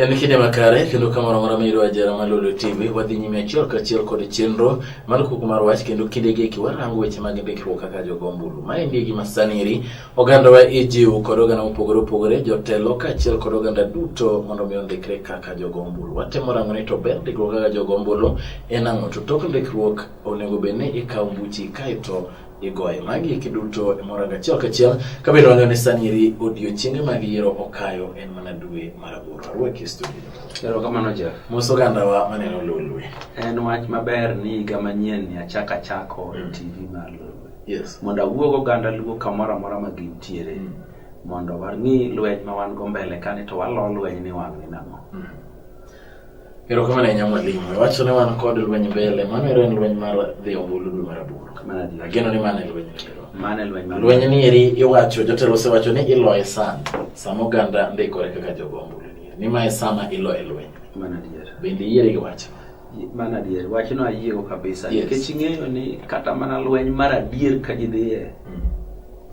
En kinde makare kendo ka moro amora miyudo ajera mar Lolwe TV wadhi nyime achiel kachiel kod chenro mar kuku mar wach kendo kinde gi eki warango weche mag ndikruok kaka jogo ombulu. Ma en gima sani eri ogandawa ijiw kod oganda mopogore opogore jotelo kaachiel kod oganda duto mondo mi ondikre kaka jogo ombulu. Watemo rango ni to ber ndikruok kaka jogo ombulu en ang'o to tok ndikruok onego bed ni ikawo buchi kaeto igoye. Magi eki duto imoranga achiel kachiel kabedo wang'eyo ni sani eri odiechienge mag yiero okayo en mana dwe mar aboro. Arwaki e studio. Erokamano Jeff. Mos ogandawa maneno Lolwe. En wach maber ni higa manyien ni achak achako e TV mar Lolwe. Yes. Mondo awuog oganda Luo kamoro amora ma gintiere Mm. mondo wang'i lweny ma wan go mbele kani to walo lweny ni wang' ni nang'o. Mm. Erokamano ahinya mwalimu. Iwacho ni wan kod lweny mbele, mano ero en lweny mar dhi ombulu dwe mar aboro. Ageno ni mano e lweny ero. Mano e lweny. Lweny ni eri iwacho, jotelo osewacho ni iloye sana, sama oganda ndikore kaka jogo ombulu ni. Ni ma e sama iloye lweny. Mano adier. Bende iyiere gi wach? Mano adier. Wachno ayiego kabisa. Yes. Nikech ing'eyo ni kata mana lweny mar adier ka ji dhiye, mm.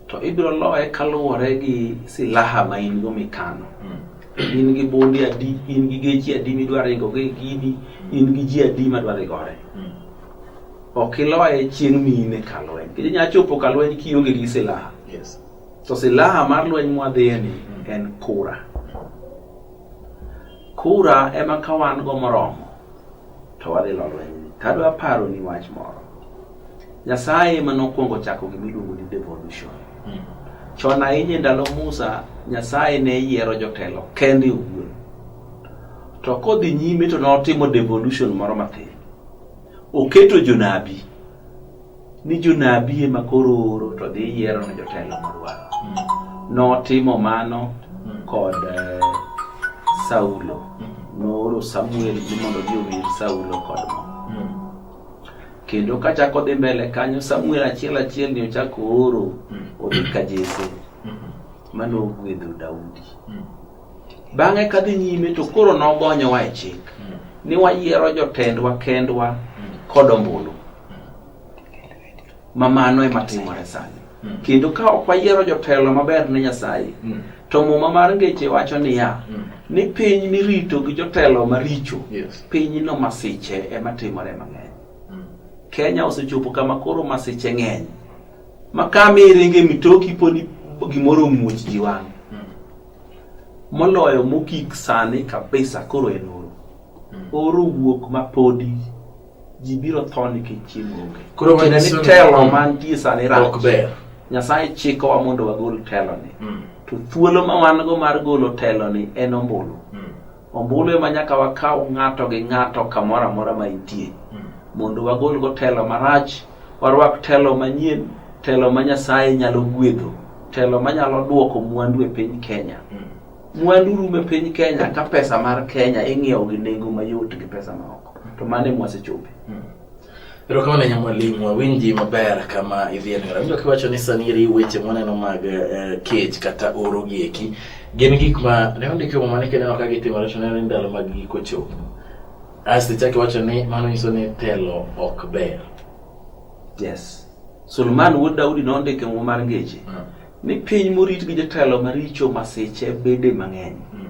to ibiro loye kaluwore gi silaha ma in go mikano. Mm. in gi bundi adi in gi gechi adi midwa ringo gi gini in gi ji adi madwa dhi gore hmm. ok iloye chieng' mine ka lweny kendo inyalo chopo ka lweny kionge gi silaha to silaha mar lweny mwadhiyeni hmm. en kura kura ema ka wan go moromo to wadhi lo lweny tadwa paro ni wach moro Nyasaye ema nokwongo chako gima iluongo ni devolution. Hmm. Chon ahinya e ndalo Musa, Nyasaye ne yiero jotelo kende owuon. To kodhi nyime to notimo devolution moro matin. Oketo jonabi ni jonabi ema koro oro to dhi yiero ne jotelo modwaro. Hmm. Notimo mano hmm. kod eh, Saulo. Nooro Samuel ni mondo odhi owir Saulo kod mo. kendo kachako dhi mbele kanyo samuel achiel achiel ni ochako oro mm. odhi ka jese mm-hmm. mane ogwedho daudi mm. bang'e kadhi nyime to koro nogonyowa e chik mm. ni wayiero jotendwa kendwa kod ombulu ma mano ema timore sani Mm. Kendo ka ok wayiero jotelo maber ne Nyasaye, mm. to muma mar ngeche wacho niya, mm. ni piny mirito gi jotelo maricho, yes. piny no masiche ema timore mang'eny. Mm. Kenya osechopo kama koro masiche ng'eny. Ma kama iringe mitoki poni gimoro muoch ji wang'. Mm. Moloyo mokik sani kabisa koro en oro. Mm. Oro wuok mapodi ji biro tho nikech chiemo onge koro ma ni telo mantie sani rach nyasaye chikowa mondo wagol teloni mm. to thuolo ma wan go mar golo teloni en ombulu mm. ombulu ema nyaka wakaw ng'ato gi ng'ato kamoro amora ma intie mm. mondo wagol go telo marach warwak telo manyien telo ma nyasaye nyalo gwedho telo ma nyalo dwoko mwandu e piny kenya mwandu rume piny kenya ka pesa mar kenya ing'iewo gi nengo mayot gi pesa maoko to mane mwasechope hmm. erokamano nya mwalimu wawinji maber kama idhienera winjo kiwacho ni saniri weche mwaneno mag eh, kech kata oro gieki gin gik ma ne ondiki muma ni kineno ka gitimore to neno ni ndalo mag giko chopo asto ichak iwacho ni mano nyiso ni telo ok ber yes sulman wuod daudi nondike muma mar ngeche hmm. ni piny morit gi jotelo maricho masiche bede mang'eny hmm.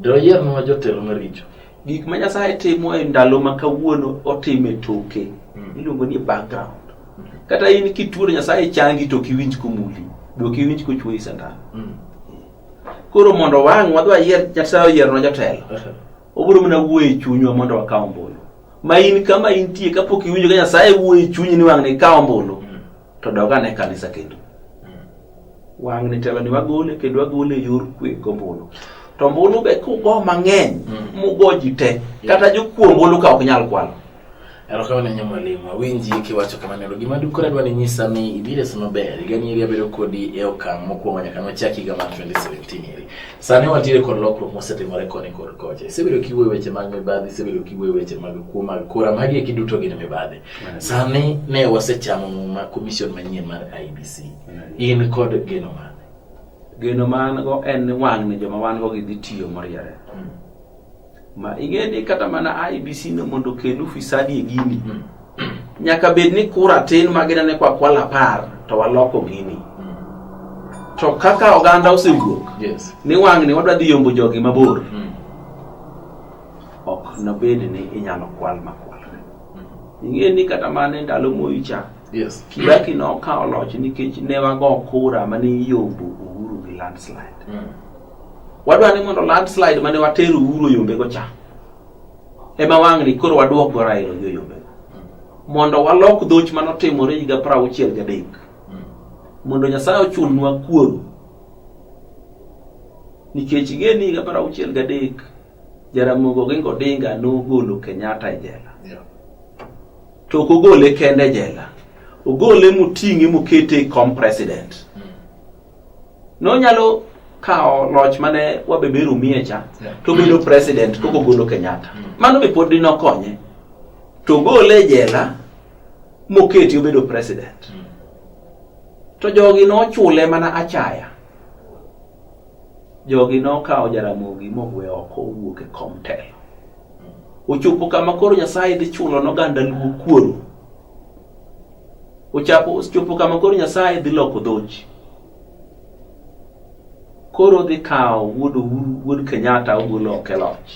Doyiernwa jotelo maricho. Gik ma Nyasaye timo e ndalo ma kawuono otime toke. Hmm. Iluongo ni background. Hmm. Kata in kituo Nyasaye changi to kiwinj kumuli. Do kiwinj kuchwoyi sandan. Hmm. Koro mondo wang' wadhi wayier Nyasaye oyiernwa jotelo. Obiro mana wuoyo e chunywa mondo wakaw ombulu. Ma in kama intie kapok iwinjo ka Nyasaye wuoyo e chunyi ni wang' ne ikaw ombulu. to dog ane kanisa kendo wang' ni teloni wagole kendo wagole e yor kwe gombulu to mbulu be kugo mang'eny mm. mugo ji te kata jokuo mbulu ka ok nyal kwalo erokamano nya mwalimu awinji kiwacho kamano gima dukore adwa ni nyisa ni ibiro esi maber higani eri abedo kodi e okang' mokwongo nyaka nochak higa mar 2017 eri sani wantiere kod lokruok mosetimore koni kod kocha isebedo kiwuoyo weche mag mibadhi isebedo kiwuoyo weche mag kuo mag kura magi eki duto gin mibadhi Sani ne wasechamo muma commission manyien mar IBC. In kod geno mane? Geno man go en ni wang' ni joma wan go gidhi tiyo moriere. Hmm. Ma ing'e ni kata mana IBC no mondo okel ufisadi e gini. Hmm. Nyaka bed ni kura tin ma ginene kwa kwala apar to waloko gini. Hmm. To kaka oganda osewuok. Yes. Ni wang' ni wadwa dhi yombo jogi mabor. Ok nobed ni inyalo kwal makwal. ing'e ni kata mana e ndalo moyi cha yes. kibaki nokawo loch nikech ne wago kura mane iyombo uhuru gi landslide mm. wadwa ni mondo landslide mane watero uhuru oyombego cha ema wang'ni koro wadwok go railo gi oyombego mm. mondo walok dhoch mane otimore higa pra auchiel gadek mm. mondo nyasaye ochulnwa kuoro nikech ing'e ni higa pra auchiel gadek Jaramogi Oginga Odinga nogolo Kenyatta e jela to ok ogole kende e jela ogole moting'e mokete e kom president mm. nonyalo kawo loch mane wabeberu miye cha to bedo president koko golo Kenyatta mm. mano be pod dinokonye to ogole e jela moketi obedo president mm. to jogi nochule mana achaya Jogi nokawo Jaramogi mogwe oko owuok e kom telo. Ochopo kama koro Nyasaye dhi chulo n'oganda luo kuoro. Ochapo ochopo kama koro Nyasaye dhi loko dhoji. Koro dhi kawo wuod Uhuru, wuod Kenyatta ogolo oko e loch.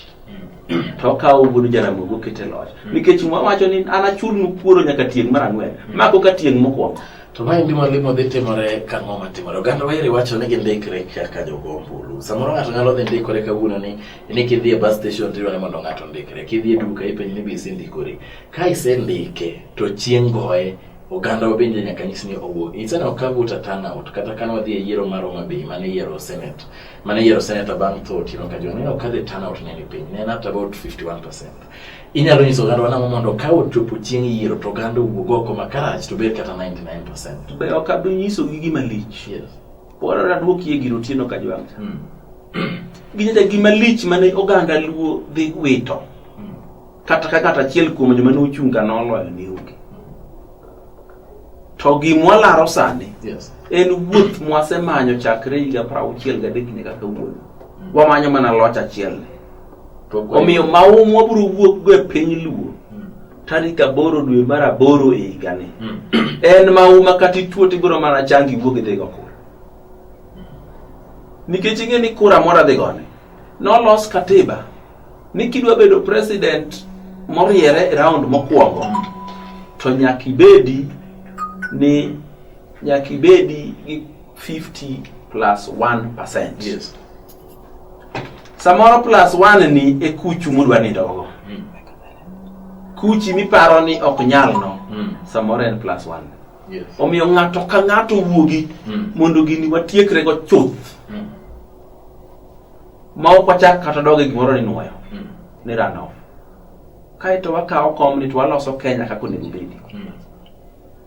To okawo wuod Jaramogi oketo e loch. Nikech mwa wacho ni an achulnu kuoro nyaka tieng' mar ang'wen. Ma koka tieng' mokwongo. To ma en gima limo dhi timore ka ng'o matimore. Oganda wayeri wacho ni gindikre kaka jogo ombulu. Samoro ng'ato nyalo dhi ndikore kawuono ni ni kidhi e bus station to ni mondo ng'ato ndikre. Kidhi e duka ipenj ni be isendikori. Ka isendike to chieng' goye oganda bende nyaka nyis ni owuog. Instead of kago ta turnout kata kane wadhi e yiero mar Homa Bay mane yiero Senate. Mane yiero Senate bang' tho Otieno Kajwang' ineno ka the turnout ne ni piny. Ne en at about 51%. Inyalo nyiso ogandwa nang'o mondo ka ochopo chieng' yiero to oganda owuog oko makarach to bed kata 99%. Be ok abi nyisogi gima lich. Yes. Pora adwok yie giro tieno ka jwang'. Mm. Ginyacha gima lich mane oganda luo dhi wito. Mm. Kata ka kata achiel kuom joma ne ochung' ka noloyo ne onge. To gimwa laro sani yes. en wuoth mwasemanyo chakre higa 63 nyaka kawuono. Mm. Wamanyo mana loch achiel ni. Omiyo maum wabiro wuokgo e piny Luo hmm. tarik aboro dwe mar aboro e higani. Hmm. En mauma kata ituo tibiro mana changi iwuog idhigo kura. Nikech ing'e ni kura moro adhigone nolos katiba ni kidwa bedo president moriere e round mokwongo hmm. to nyaka ibedi ni nyaka ibedi gi 50 plus 1 percent. Yes. samoro plus one ni e kuchu mudwa nindogo Mm. kuchi miparo ni ok nyal no Mm. samoro en plus one Yes. omiyo ng'ato ka ng'ato wuogi Mm. mondo gini watiekrego chuth Mm. ma ok wachak kata doge gimoro ni nwoyo Mm. ni runoff kaeto wakawo komni to waloso kenya kaka onego bedi Mm.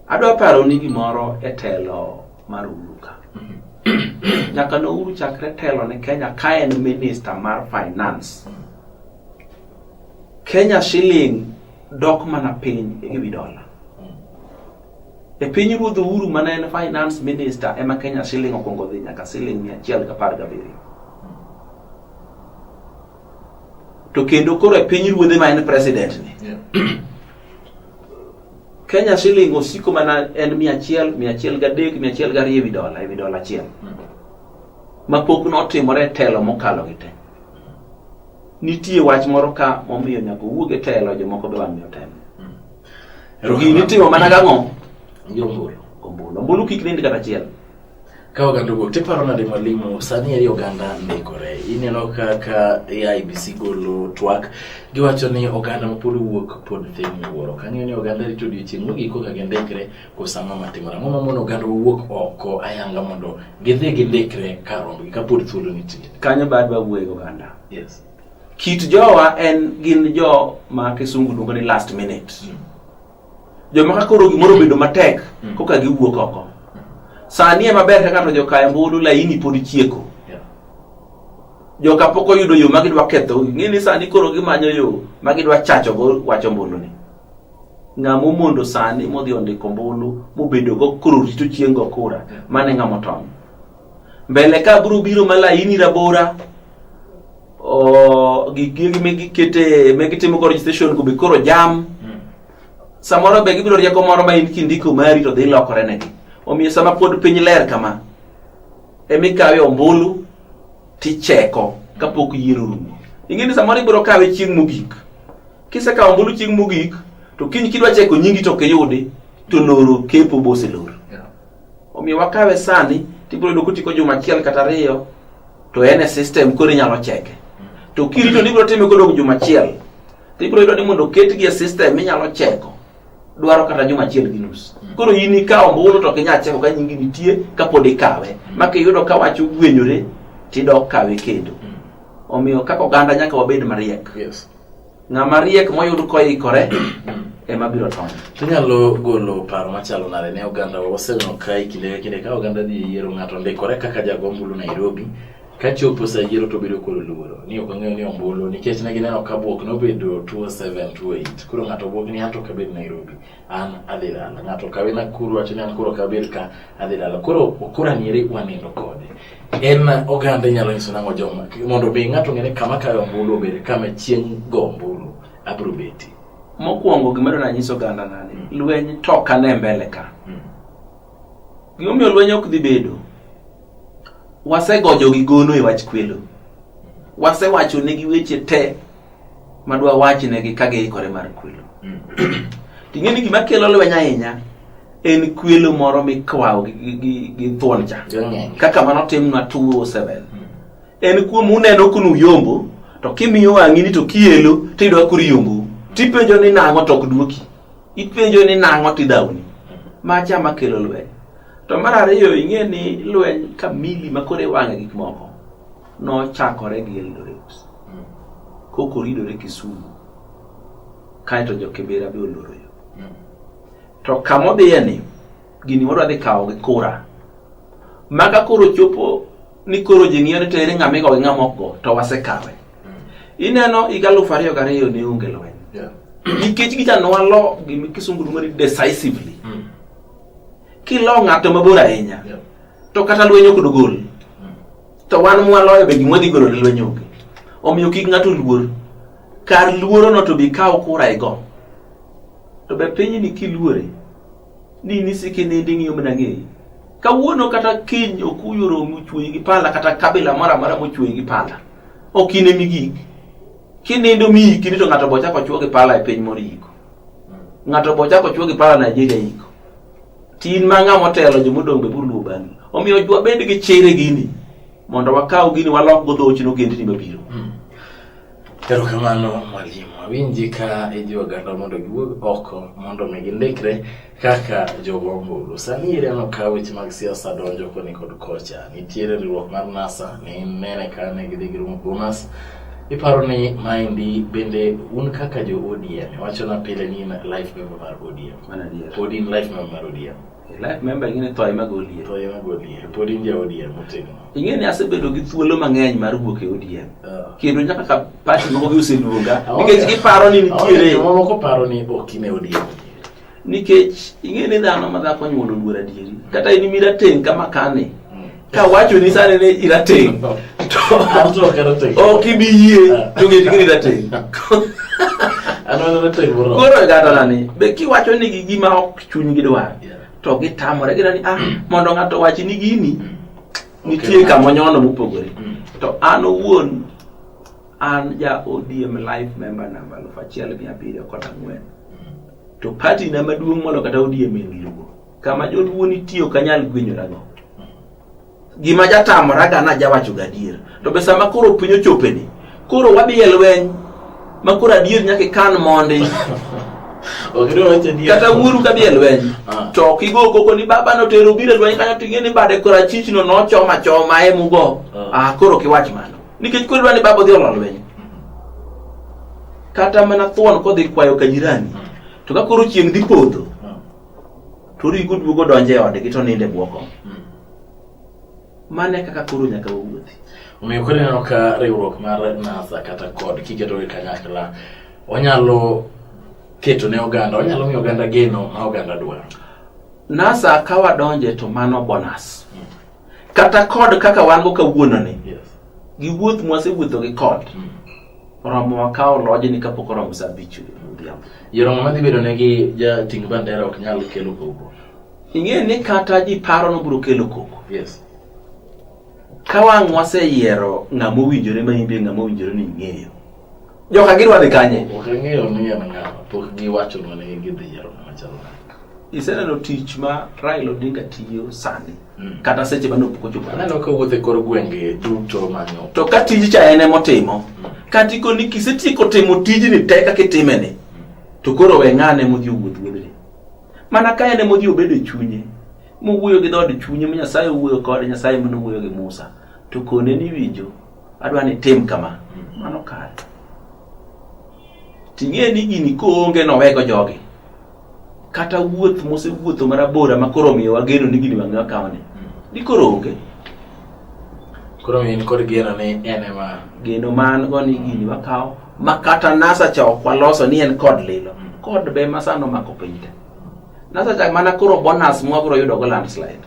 Adwa paro ni gimoro e telo mar Uhuru ka. Nyaka ne Uhuru chakre telo ne Kenya ka en minista mar finance. Kenya shilling dok mana piny e wi dola. E piny ruodh Uhuru mana en finance minister ema Kenya shilling okwongo dhi nyaka shilling mia achiel gi apar gabiriyo. to kendo koro e piny ruodhe ma en president ni Kenya shilling osiko mana en mia achiel mia achiel gadek mia achiel gariyo ewi dola ewi dola achiel hmm. ma pok notimore e telo mokalo gi te nitie wach moro ka momiyo nyaka owuog e telo jomoko be wang'e otem hmm. gini itimo mana gang'o ombulu ombulu kik nindi kata achiel Ka oganda owuok to iparo nade mwalimu, sani eri oganda ndikore. Ineno kaka AIBC golo twak, giwacho ni oganda mapod owuok pod dhi miwuoro. Kang'eyo ni oganda rito odiochieng' mogik koka gindikre, koso ang'o matimore? Ang'o mamono oganda owuok oko ayanga mondo gidhi gindikre kar rombgi kapod thuolo nitie? Kanyo be adwa wuoyo gi oganda. Yes. Kit jowa en gin jo ma kisungu luongo ni last minute. Mm. Joma ka koro gimoro bedo matek mm. koka giwuok oko. Sani ema ber ka ng'ato joka embulu laini pod chieko. Joka pok oyudo yo ma gidwa ketho. Ng'e ni sani koro gimanyo yo ma gidwa chacho go wacho mbulu ni. Ng'ama omondo sani modhi ondiko mbulu mobedo go koro rito chieng' go kura mane ng'ama otony. Mbele ka biro biro ma laini rabora o gigi me gikete me gitimo go registration go be koro jam samoro be gibiro rieko moro ma in kindiko mari to dhi lokore negi omiyo sama pod piny ler kama emikawe ombulu ticheko kapok yiero rumo ing'e ni samoro ibiro kawe chieng' mogik kisekawo ombulu chieng' mogik to kiny kidwa cheko nyingi to ok iyudi to loro kepo boselor Yeah. omiyo wakawe sani tibiro yudo kotiko juma achiel kata ariyo to en e system koro inyalo cheke to kirito ni ibiro time kodong' juma achiel to ibiro yudo ni mondo oketgi e system inyalo cheko dwaro kata juma achiel gi nus koro in ikawo ombulu to ok inyal cheko ka nyingi nitie kapod ikawe ma kiyudo ka wach ogwenyore tidok kawe kendo omiyo kaka oganda nyaka wabed mariek Yes. Ng'ama riek moyud koikore ema biro tony. Inyalo golo paro machalo nade ne oganda waseneno ka e kinde ka kinde ka oganda dhi e yiero ng'ato ndikore kaka jagombulu Nairobi ka chopo sa yiero to bedo kod luoro ni ok ong'eyo ni ombulu nikech ne gineno ka bwok nobedo 207 208 koro ng'ato bwok ni anto kabed Nairobi an adhi dala ng'ato kawe nakuru wacho ni an koro kabir ka adhi dala koro okora nyeri wanindo kode en oganda inyalo nyiso nang'o joma mondo mi ng'ato ng'ene kama kayo ombulu obed kama chieng' go ombulu abiro beti mokwongo gima dona nyiso oganda nani mm. lweny to kane mbele ka mm. gimomiyo lweny ok dhi bedo wasegojo gi gono e wach kwelo mm. wasewacho ne gi weche te madwa wachnegi ka giikore mar kwelo mm. ting'e ni gima kelo lweny ahinya en kwelo moro mikwawo gi thuon cha kaka mano timnwa 207 mm. en kuom uneno kunu yombo to kimiyo wang'ini to kielo tiyudo ka koro yombo tipenjo ni nang'o to ok duoki ipenjo ni nang'o tidhawni macha makelo lweny to mar ariyo ing'e ni lweny kamili makoro iwang'e gik moko nochakore gi Eldoret mm. koko ridore Kisumu kaeto jo Kibera be oloro yo mm. to kama odhiye ni gini wadwa dhi kawo gi kura maka koro chopo ni koro ji ng'iyo ni to ere ng'ama igo gi ng'ama ok go to wasekawe mm. ineno higa alufu ariyo gariyo ne onge lweny nikech gicha nwalo gima kisungu luongo ni decisively mm. kilo ng'ato mabor ahinya yeah. to kata lweny ok dogol mm. To wan mwaloyo be gimwa dhi golo lweny onge. Omiyo kik ng'ato luor. Kar luorono to bi kaw kura igo. To be pinyni kiluore ni nisiki nindi ng'iyo mana ng'eyi. Kawuono kata kiny okuyu romi ochweyi gi pala kata kabila moro amora mochweyi gi pala. Ok in emi gik. Kinindo mi ikini to ng'ato bochako chwo gi pala e piny moro iko. Ng'ato bochako chwo gi pala Nigeria iko. Tin ma ng'a motelo jo modong' be biro luwo bang'i. Omiyo wabed gi chir e gini mondo wakaw gini walok go dhochi nogendni mabiro. Hmm. Erokamano mwalimu. Awinji ka ijiwo oganda mondo giwuog oko mondo mi gindikre kaka jogo ombulu. Sani ere no ka weche mag siasa donjo koni kod kocha. Nitiere riwruok mar NASA ni nene ka ne gidhi girumo Bomas iparo ni maendi bende un kaka jo ODM wachona pile ni in life member mar ODM Mana dia. Pod in life member mar ODM. Life member ing'e thoye mag ODM. Thoye mag ODM. Pod in ja ODM motegno. Ing'e ni asebedo gi thuolo mang'eny mar wuok e ODM. Uh. Ah. Kendo nyaka ka party moko gi oseluonga. Ah, Nikech giparo ni nitiere. Aonge joma moko paro ni ok in e ODM. Nikech ing'e ni dhano ma dhako nyuolo luor adieri. Kata in mirateng' kama kane. ka wacho ni sani ni irateng' to Anto ok arateng'. ok ibi yie Ah. to ng'e ni irateng' An an arateng' moromo. koro e gadona ni be kiwacho ni gi gima ok chunygi dwar Yeah. to gitamore gina ni ah mondo ng'ato wachi ni gini nitie Okay. kama onyono mopogore Mm. to an owuon an ja ODM life member namba aluf achiel mia abiriyo kod ang'wen to party na maduong' molo kata ODM en luo Kama joluo nitie ok anyal gwenyorago. Gima jatamoraga na jawacho gadier. To be sama koro piny ochopeni, koro wadhi e lweny ma koro adier nyaka ikan mondi. kata wuoru ka dhi e lweny ah. to ok igo koko ni baba notero biro e lweny kanyo to ing'e ni bade koro achichno nochoma choma e mugo a ah. ah, koro kiwach mano nikech koro idwa ni baba odhi olo lweny kata mana thuon kodhi kwayo ka jirani to ka koro chieng' dhi podho to origo duogo donjo e odgi to ninde bwoko hmm. mane kaka koro nyaka wuothi omiyo koro ineno ka riwruok mar nasa kata kod kiketo gi kanyakla onyalo keto ne oganda onyalo miyo oganda geno ma oganda dwaro nasa ka wadonje to mano bonus hmm. kata kod kaka wan go kawuononi gi wuoth mwasewuotho gi kod mm. oromo wakawo lojni kapok oromo sa abich odhiambo yoromo madhi bedo ne gi jating bandera ok nyal kelo koko ing'e ni kata ji paro nobiro kelo koko yes. ka wang' waseyiero ng'ama owinjore ma imbe ng'ama owinjore ni ing'eyo Joka gidwa dhi kanye? Ok ang'eyo ni en ng'a, pok giwacho na ni gidhi yiero ng'ama chalo nade. Iseneno tich ma Raila Odinga tiyo sani Mm. kata seche mane opok ochopo. Aneno ka owuotho e kor gwenge duto manyo. To ka tij cha en ema otimo, kata ikoni kisetieko timo tijni te kaka itimeni, to koro we ng'ane modhi owuoth wuodhni. Mana ka en ema odhi obedo e chunye, mowuoyo gi dhood chunye ma Nyasaye owuoyo kode, Nyasaye mane owuoyo gi Musa, to kone ni winjo Adwa ni tim kama. Mano kare. Ting'e ni gini koonge nowego jogi. Kata wuoth mosewuotho marabora ma koro miyo wageno ni gini wang'e wakawni. Ni koro onge. Koro in kod geno ni en ema. Geno man go ni gini wakawo ma kata NASA cha ok waloso ni en kod lilo. Kod be masano mako piny te. NASA cha mana koro bonus mwabro yudo go landslide.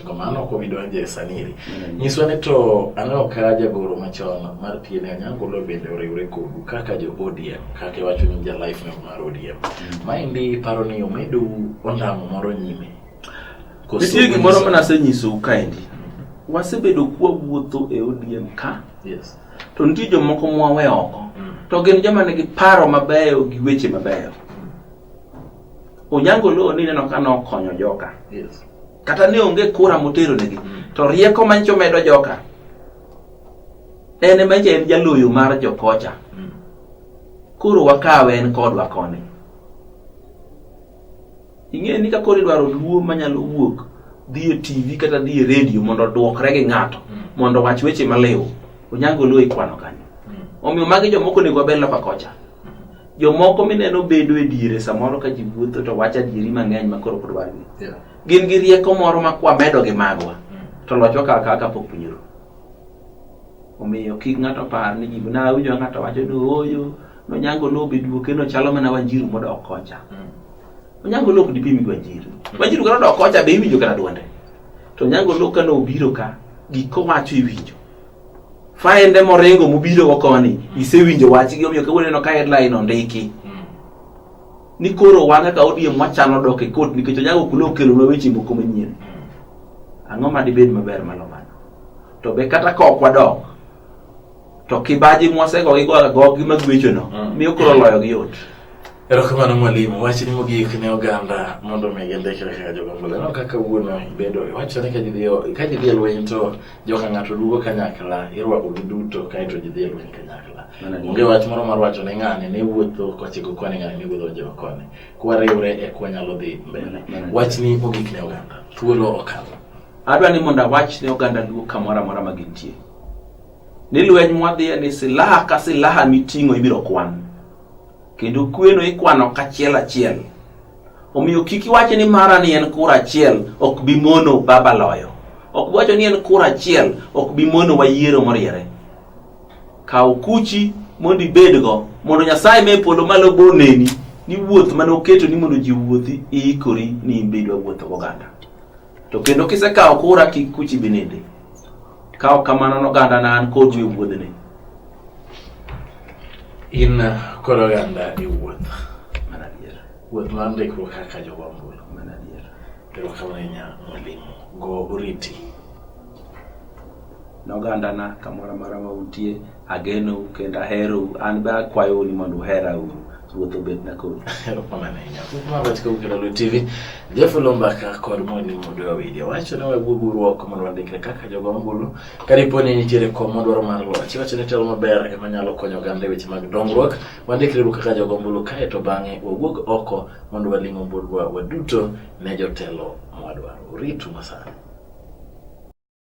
Kamano ok obi donjo e saniri. Mm. Nyiswa ni to aneno ka jagoro machon mar PN Anyangolo bende oriwre kodu kaka jo ODM kaka iwacho ni ja life no mar ODM. Mm. Maendi paro ni omedu ondamo moro nyime. Nitie gimoro ma nasenyisou kaendi. Wasebedo kwa wuotho e ODM ka. Yes. To nitie jomoko mwawe oko. Mm. To gin joma nigi paro mabeyo gi weche mabeyo. Onyango Loo ni neno ka nokonyo joka. Yes kata ne onge kura moteronegi mm. to rieko mancho medo joka en ema en jaloyo mar jokocha mm. koro wakawe en kodwa koni ing'eyo ni ka koro idwaro luo manyalo wuok dhi e tv kata dhi e redio mondo odwokre gi ng'ato mm. mondo wach weche maliw onyango luo ikwano kanyo omiyo magi jomoko onego wabed loka kocha jomoko mineno bedo e diere samoro ka ji wuotho to wacho adieri mang'eny ma koro kodwargi gin gi rieko moro ma kwamedo gi magwa mm. to loch okawo kawa kapok punyuru omiyo kik ng'ato par ni ji na awinjo ng'ato wacho ni ooyo nonyango lobe duoke no chalo mana wanjiru modok kocha mm. onyango lok dipimi gi wanjiru mm. wanjiru kata odok kocha be iwinjo kata dwonde to onyango lok kane obiro ka gik kowacho iwinjo faende moringo mobiro go koni isewinjo wachgi omiyo kawuono ineno ka headline ondiki ni koro wan kaka odiem wachano dok e kot nikech onyago okula okelonwa weche moko manyien ang'o ma dibed maber malo mano to be kata ka ok wadok to kibaji mwasego gigoga gogi magwechono miyo koro loyogi yot Erokamano mwalimu, wachni mogik ne oganda mondo omi gindikre kaka jogombola. Aneno kaka wuono ibedo iwachore ka jidhi ka jidhi e lweny to joka ng'ato duogo kanyakla, irwako gi duto kaeto jidhi e lweny kanyakla. Onge wach moro mar wacho ne ng'ani ne wuotho kochiko koni ng'ani ne wuotho jo koni. Kwariwre e kwanyalo dhi mbele. Wachni mogik ne oganda, thuolo okalo. Adwa ni mondo awach ne oganda duo kamoro amora ma gintie. Ni lweny mwadhiye ni silaha ka silaha miting'o ibiro kwan. Kendo kweno ikwano kachiel achiel. Omiyo kik iwache ni mara ni en kura achiel ok bi mono baba loyo. Ok bi wacho ni en kura achiel ok bi mono wayiero moriere. Kaw kuchi mondo ibedgo mondo Nyasaye me polo malo bo neni ni wuoth mane oketo ni mondo ji owuothi iikori ni in be idwa wuotho goganda. To kendo kisekawo kura kik kuchi binindi. Ka ok kamano noganda na an kodu e wuodhni. In kod oganda e wuoth. Mana adier. Wuoth mar ndikruok kaka jogo ombulu. Mana adier. Erokamano ahinya mwalimu. Go oriti. ne ogandana kamoro amora ma untie agenou kendo aherou an be akwayou ni mondo uhera uru ruoth obedna kodu erokamano ahinya kumabachika kukelalo tv jeff lombaka kod moni mondo wawili wacho ne waguoguru oko mondo wandikre kaka jogo ombulu kadipo ni nitiere kom madwaro mar loch iwacho ni telo maber ema nyalo konyo oganda e weche mag dongruok wandikre ru kaka jogo ombulu kae to bang'e wawuog oko mondo waling' ombuluwa waduto ne jotelo mwadwaro uritu masani